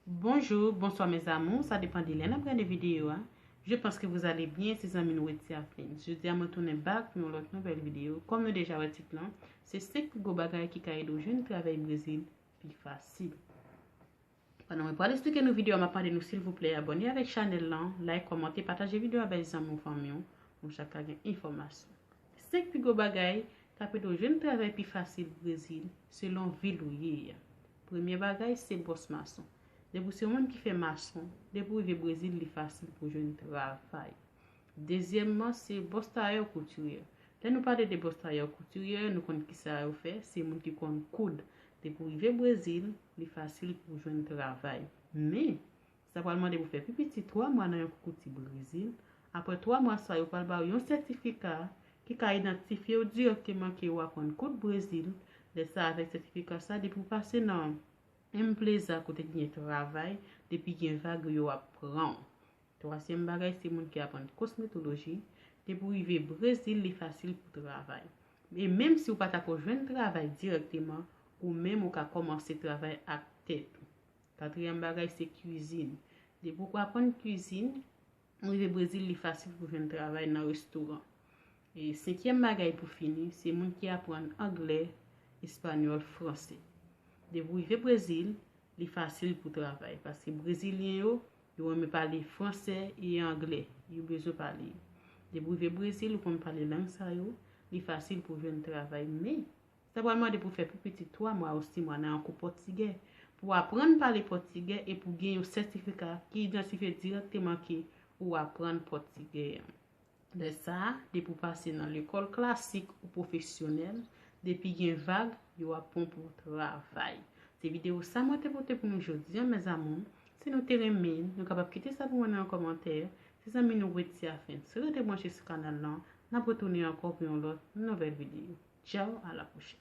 Bonjour, bonsoir mes amours, sa depan de lè nan prene videyo a. Je pense que vous allez bien, se zanmi nou eti afin. Je di a mwen tounen bak pou yon lot nouvel videyo. Kom nou deja wè tit lan, se 5 pi gwo bagay ki ka ede ou jwenn travay Brezil pi fasil. Pandan mwen pral esplike nou video a map mande nou silvouplè abòne avèk chanèl lan, like, kòmante, pataje video avèk zanmi w fanmi w pou nou chak ka gen enfòmasyon. 5 pi gwo bagay kap ede w jwenn travay pi fasil Brezil selon vil ou ye a. Premye bagay se bòs mason. Depi w se yon moun ki fè mason, depi w rive Brezil li fasil pou w jwenn travay. Dezyèmman se bòs tayè ou koutiryè. Lè nou pale de bòs tayè ou koutiryè nou konn kisa yo fè, se moun ki konn koud. Depi w rive Brezil, Li fasil pou w jwenn travay. Men, sa pral mande pou w fè pi piti twa mwa nan yon koukouti Brezil. Apre twa mwa sa yo pral ba w yon sètifika ki ka idantifye w dirèkteman ke ou aprann koud Brezil. Lè sa avèk sètifika sa, depi w pase nan Empleza kote ki gen travay, depi gen vag yo ap pran w. Twazyèm bagay se moun ki aprann kosmetoloji, depi w rive Brezil li fasil pou travay. E menm si w pa ta ko jwenn travay dirèkteman, ou menm ou ka kòmanse travay ak tèt ou. Katriyèm bagay se kwizin. Depi w ko aprann kwizin, ou rive Brezil li fasil pou jwenn travay nan restoran. E senkyèm bagay pou fini, se moun ki aprann anglè, espanyòl, franse. Depi w rive Brezil, li fasil pou travay, paske brezilyen yo Yo renmen pale fransè e anglè. Yo bezwen pale yo. Depi w rive Brezil, ou konn pale lang sa yo, li fasil pou w jwenn travay. Men, sa pral mande pou w fè pi piti twa mwa ou si mwa nan yon kou pòtigè pou w aprann pale pòtigè e pou w gen yon sètifika ki idantifye dirèkteman ke ou aprann pòtigè an. Lè sa, depi ou pase nan lekòl klasik ou pwofesyonèl, depi gen vag, yo ap pran w pou travay. Se videyo sa mwen te pote pou nou jodi an mes amours. Si nou te renmen l, nou kapab kite sa pou mwen nan yon kòmantè. Se zanmi nou Wetia Fentz. Rete branche sou kanal lan. N ap retounen ankò pou yon lòt nouvèl videyo. Tchao, a la pwochèn.